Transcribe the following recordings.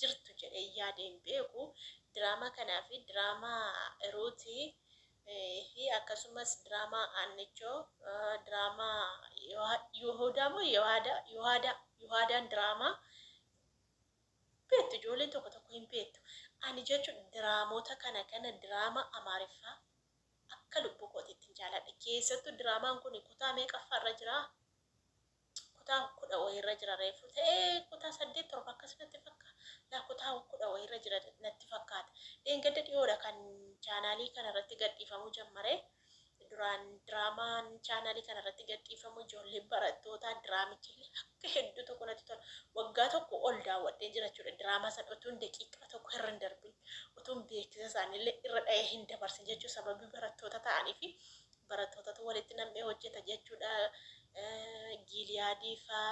jirtu jedhee yaade hin beeku. Diraamaa kanaa fi diraamaa Ruuti fi akkasumas diraamaa Aannichoo, diraamaa Yohoodaa moo Yohaadaa Yohaadaa Yohaadaan diraamaa beektu ijoolleen tokko tokko hin beektu. Ani jechuun diraamoota kana kana diraamaa Amaariffaa akka lubbuu kootiitti hin jaaladha. Keessattuu diraamaan kun kutaa meeqaffaa irra jiraa? kutaa kudha wayirra jira reefu ta'ee kutaa saddeet torba akkas natti fakka yaa kutaa kudha wayirra jira natti fakkaata dheengadda dhiyoodha kan chaanaalii kana irratti gadhiifamuu jammare duraan diraamaan chaanaalii kana irratti gadhiifamu ijoollee barattootaa diraamichillee akka hedduu tokko natti tola waggaa tokko ol daawwadhee jirachuudha diraamaa san utuun daqiiqaa tokko irra hin darbin utuun beeksisa isaanillee irra dha'ee hin dabarsin jechuu sababii barattoota ta'anii fi barattootatu walitti nam'ee hojjeta jechuudha. Giiliyaadii faa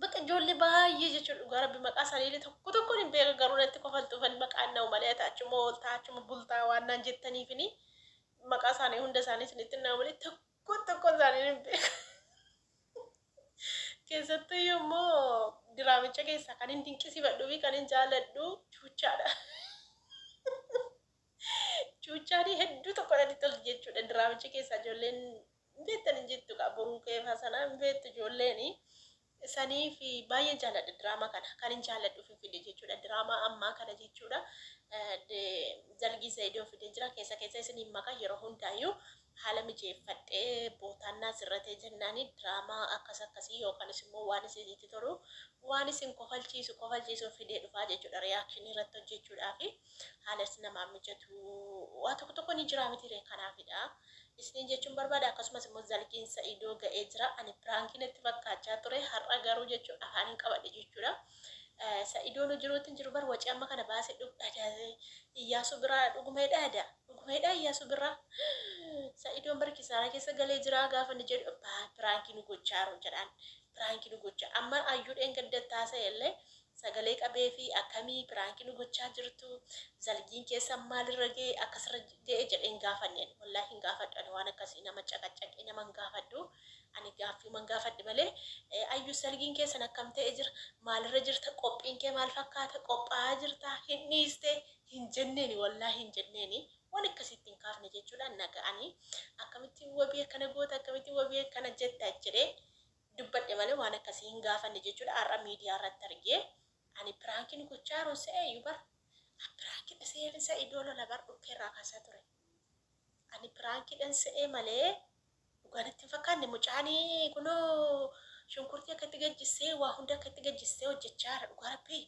bakka ijoollee baay'ee jechuudha dhugaa rabbi maqaa isaanii tokko tokkoon hin beeku garuu natti kofaltuufan maqaan na'u malee ati achuma ooltaa achuma bultaa waan naan jettaniifini maqaa isaanii hunda isaanii isinitti na'u malee tokko tokko isaanii hin beeku. Keessattuu immoo diraamicha keessaa kan hin dinqisifadhuu fi kan hin jaalladhu chuuchaadha. Cuuccaanii hedduu tokko natti tolti jechuudha diraamicha keessaa ijoolleen hin beektan hin jettu kaa boruu kee fasanaa hin beektu ijoolleeni sanii fi baay'een jaalladha diraamaa kana kan hin jaalladhu fi fide jechuudha diraamaa ammaa kana jechuudha dalgii seedoo fide jira keessa keessa isin hin maka yeroo hundaayyuu haala mijeeffadhee bootaan naa sirratee jennaani diraamaa akkas akkasii yookanis immoo waan isinitti tolu waan isin kofalchiisu kofalchiisuun fidee dhufaa jechuudha reaction irratti hojjechuudhaafi haalas namaa mijatu waa tokko tokko ni jiraa mitiiree kanaafidha isiniin jechuun barbaada akkasumas immoo zalqiin sa'idoo ga'ee jira ani piraankii natti fakkaachaa ture har'a garuu jechuun afaaniin qabadhe jechuudha sa'idoonu jiruutti hin jiru bar wacii amma kana baase dhugdha iyyaasuu biraa dhuguma hidhaada Dhugumaidhaa Iyasu birraa Sa'idon bar kisaara keessa galee jiraa gaafa inni jedhu abbaa piraanki nu gochaaro jedhaan piraanki nu gocha amma Ayyuu dheengadda itti haasa'e illee sagalee qabeefi akkamii piraanki nu gochaa jirtu zalgiin keessan maal irra ga'e akkas irra ga'e jedhee hin gaafanne ani wallahi hin gaafadhu ani waan akkasii nama caqacaqee nama hin gaafadhu ani gaaffiiman gaafadhe malee Ayyuu zalgiin keessan akkam ta'e jira maal irra jirta qophiin kee maal fakkaata qophaa'aa jirta hin dhiiste hin jenneeni wallahi hin jenneeni waan akkasii itti hin kaafne jechuudhaan na ga'anii akkamitti wabii akkana goota akkamitti wabii akkana jetta jedhee dubbadhe malee waan akkasii hin gaafanne jechuudha har'a miidiyaa irratti argee ani piraankiin gochaa jiruun se'eeyyu bar an piraankiidha se'een se'e idoo lola bar dhukkee irraa kaasaa ture ani piraankiidhan se'ee malee dhugaan itti hin fakkaanne mucaanii kunoo shunkurtii akka itti gajjissee waa hunda akka itti gajjissee hojjechaa jira dhugaa rabbii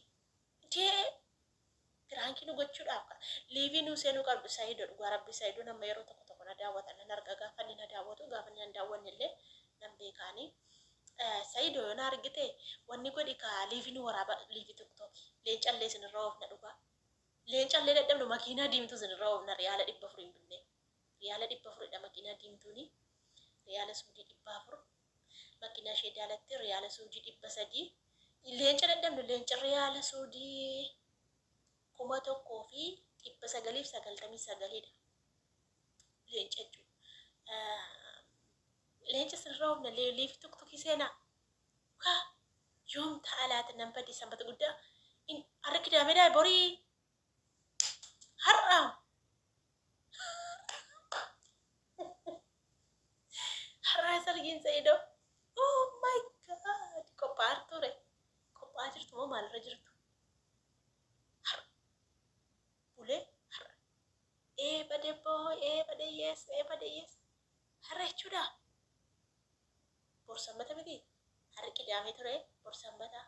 dee Piraanki nu gochuudhaaf ka. Liivii nuu seenuu qabdu saido dhugaa rabbii saidoon amma yeroo tokko tokko na daawwata nan arga gaafa inni na daawwatu gaafa inni na hin daawwanne illee nan beeka ani saido yoo na argite wanni godhi ka liivii nu waraaba liivii tiktoki leenca illee isin irra oofna dhugaa leenca illee dadhabnu makiinaa diimtuu isin irra oofna riyaala dhibba afur hin binnee riyaala dhibba afuridha makiinaa diimtuuni riyaala suudii dhibba afur Makiinaa ishee daalatti riyaala suudii dhibba sadii. Leenca dadhabne leenca riyaala suudii kuma tokkoo fi dhibba sagaliif sagaltamii sagalidha. Leenca jechuudha. Leenca sirra humna leeliif tuktukii seenaa. Kaa yoom ta'a laata nan badii sanbata guddaa. Har'a kidaameedhaa borii har'a har'a sargiin sa'ido oh my god qophaa'aa turture qophaa'aa jirtu moo maalirra jirtu har'a bulee har'a eebade boo eebade yes eebade yes har'a jechuudha bor sammata miti har'i qidaamee ture bor sammata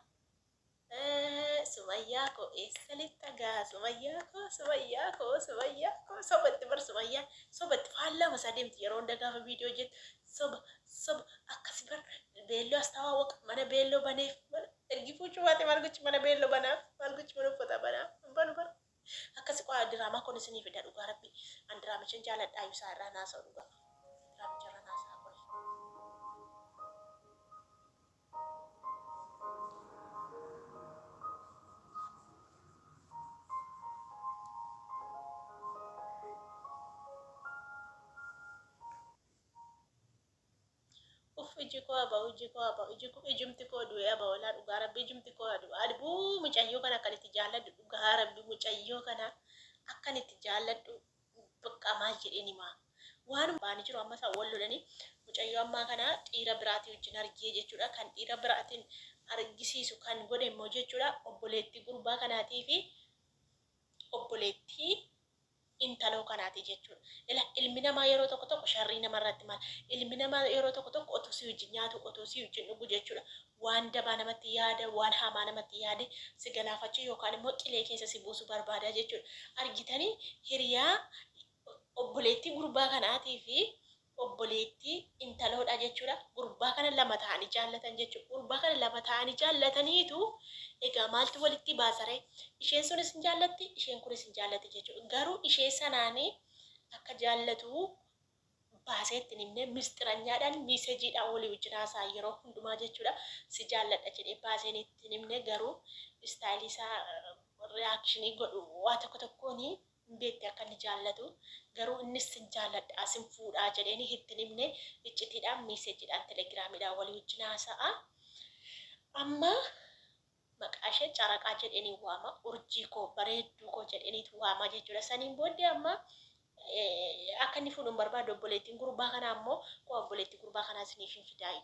Sumayyaa koo eessa kaleetta gaa Sumayyaa koo Sumayyaa koo Sumayyaa koo soba itti bar Sumayyaa soba itti faallama isaa deemti yeroo hunda gaafa viidiyoo hojjetu soba soba akkas bar beelloo astawaa waqa mana beelloo baneef mana ergi fuuchuu baate maal gochi mana beelloo banaaf maal gochi mana uffataa banaaf hin banu bar Akkasi qoy an diraamaa kon isinii fida dhugaa rabbii an diraamichan jaaladhaa ibsaa irraa hin haasa'u dhugaa diraamicha irran haasa'a qoy. Uff iji koo abo iji koo abo iji koo ijumti koo du'e abo walaa dhugaa rabbi ijumti koo adu adbu mucayyoo kana akkan itti jaalladhu dhugaa rabbi mucayyoo kana akkan itti jaalladhu bakka maal jedheen himaa waan baani jiru amma isaa wal lolanii mucayyoo ammaa kana dhiira biraatii wajjin argee jechuudha kan dhiira biraatiin argisiisu kan godhe immoo jechuudha obboleettii gurbaa kanaatii fi obboleettii intaloo kanaati jechuudha. Ila ilmi namaa yeroo tokko tokko sharrii namarratti mala. Ilmi namaa yeroo tokko tokko otuu si wajjin nyaatu, otuu si wajjin dhugu jechuudha waan dabaa namatti yaada, waan hamaa namatti yaade si galaafachuu yookaan immoo qilee keessa si buusu barbaada jechuudha. Argitanii hiriyaa obboleettii gurbaa kanaatii fi obboleettii, intaloodha jechuudha. Gurbaa kana lama ta'anii jaallatan jechuudha. Gurbaa kana lama ta'anii jaallataniitu egaa maaltu walitti baasaree? Isheen sunis hin jaallatti, isheen kunis hin jaallatti jechuudha. Garuu ishee sanaan akka jaallatu baasee itti hin himne misxiranyaadhaan miisejiidhaan walii wajjin haasa'an yeroo hundumaa jechuudha. Si jaalladha jedhee baaseen itti hin himne garuu istaayilii isaa riyaakshinii godhu waa tokko tokkoon hin beekte akka inni jaallatu garuu innis sin jaalladha sin fuudhaa jedheenii itti hin himne iccitiidhaan miiseejiidhaan telegiraamiidhaan walii wajjin haasa'a amma maqaa ishee caraqaa jedheenii waama urjii koo bareedduu koo jedheeniitu waama jechuudha saniin booddee amma akka inni fuudhu hin barbaadu obboleettiin gurbaa kanaa ammoo koo obboleettii gurbaa kanaa isiniif hin fidaayyu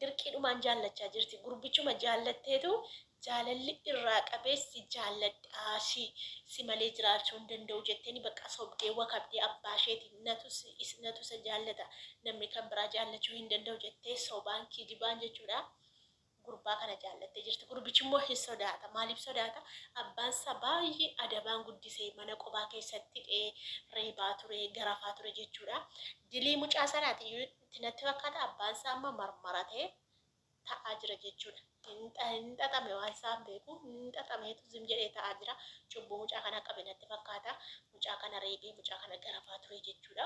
dirqiidhumaan jaallachaa jirti gurbichuma jaallatteetu jaalalli irraa qabee si jaalladhaa si si malee jiraachuu hin danda'u jetteeni baqqaa sobdee wakabdee abbaa isheeti natu natu isa jaallata namni kan biraa jaallachuu hin danda'u jettee sobaan kijibaan jechuudha gurbaa kana jaallattee jirti gurbichi immoo hin sodaata maaliif sodaata abbaan isaa baay'ee adabaan guddisee mana qobaa keessatti dhee reebaa ture garafaa ture jechuudha dilii mucaa sanaati itti natti fakkaata abbaan isaa amma marmaratee ta'aa jira jechuudha. Hin xaxame waan isaan beeku hin xaxameetu zim jedhee ta'aa jira. Cubbuu mucaa kanaa qabe natti fakkaata. Mucaa kana reebee mucaa kana garafaa ture jechuudha.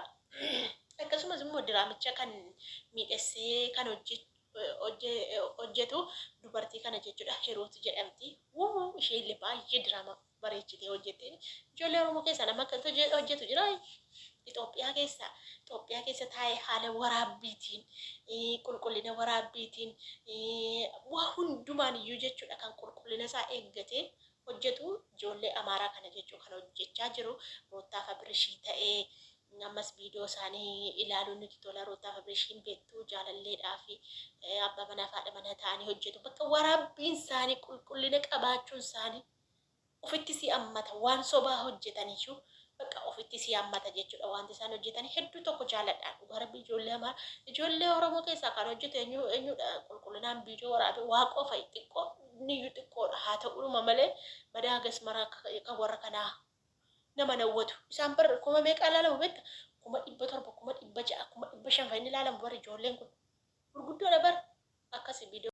Akkasumas immoo diraamicha kan miidhessee kan hojjetu dubartii kana jechuudha Hiruut jedhamti. Wuu ishee illee baay'ee diraamaa bareechitee hojjettee ijoollee Oromoo keessaa nama akkantu hojje- hojjetu jira. Itoophiyaa keessa Itoophiyaa keessa taa'ee haala waraabbiitiin eh, qulqullina waraabbiitiin eh, waa hundumaan iyyuu jechuudha kan qulqullina isaa eeggatee hojjetu ijoollee Amaaraa kana jechuu kan hojjechaa jiru Ruuttaaf Abirishii ta'ee ammas viidiyoo isaanii ilaaluun nuti tola Ruuttaaf Abirishiin beektu jaalalleedhaa fi eh, abbaa manaa fi haadha manaa ta'anii hojjetu bakka waraabbiin isaanii qulqullina qabaachuun isaanii Ofitti si hammata waan sobaa hojjetan iyyuu bakka ofitti si hammata jechuudha wanti isaan hojjetan hedduu tokko jaaladha dhugaa rabbi ijoollee amara ijoollee oromoo keessaa kan hojjetu eenyu eenyudha qulqullinaan viidiyoo waraabe waaqoo fa'i xiqqoo niyyuu xiqqoodha haa ta'uudhuma malee badaa gasmaraa kan warra kanaa nama nawwatu isaan bar kuma meeqaa ilaalamu beekta kuma dhibba torba kuma dhibba ja'a kuma dhibba shan fa'i ni ilaalamu bar ijoolleen kun gurguddoodha bar akkasi viidiyoo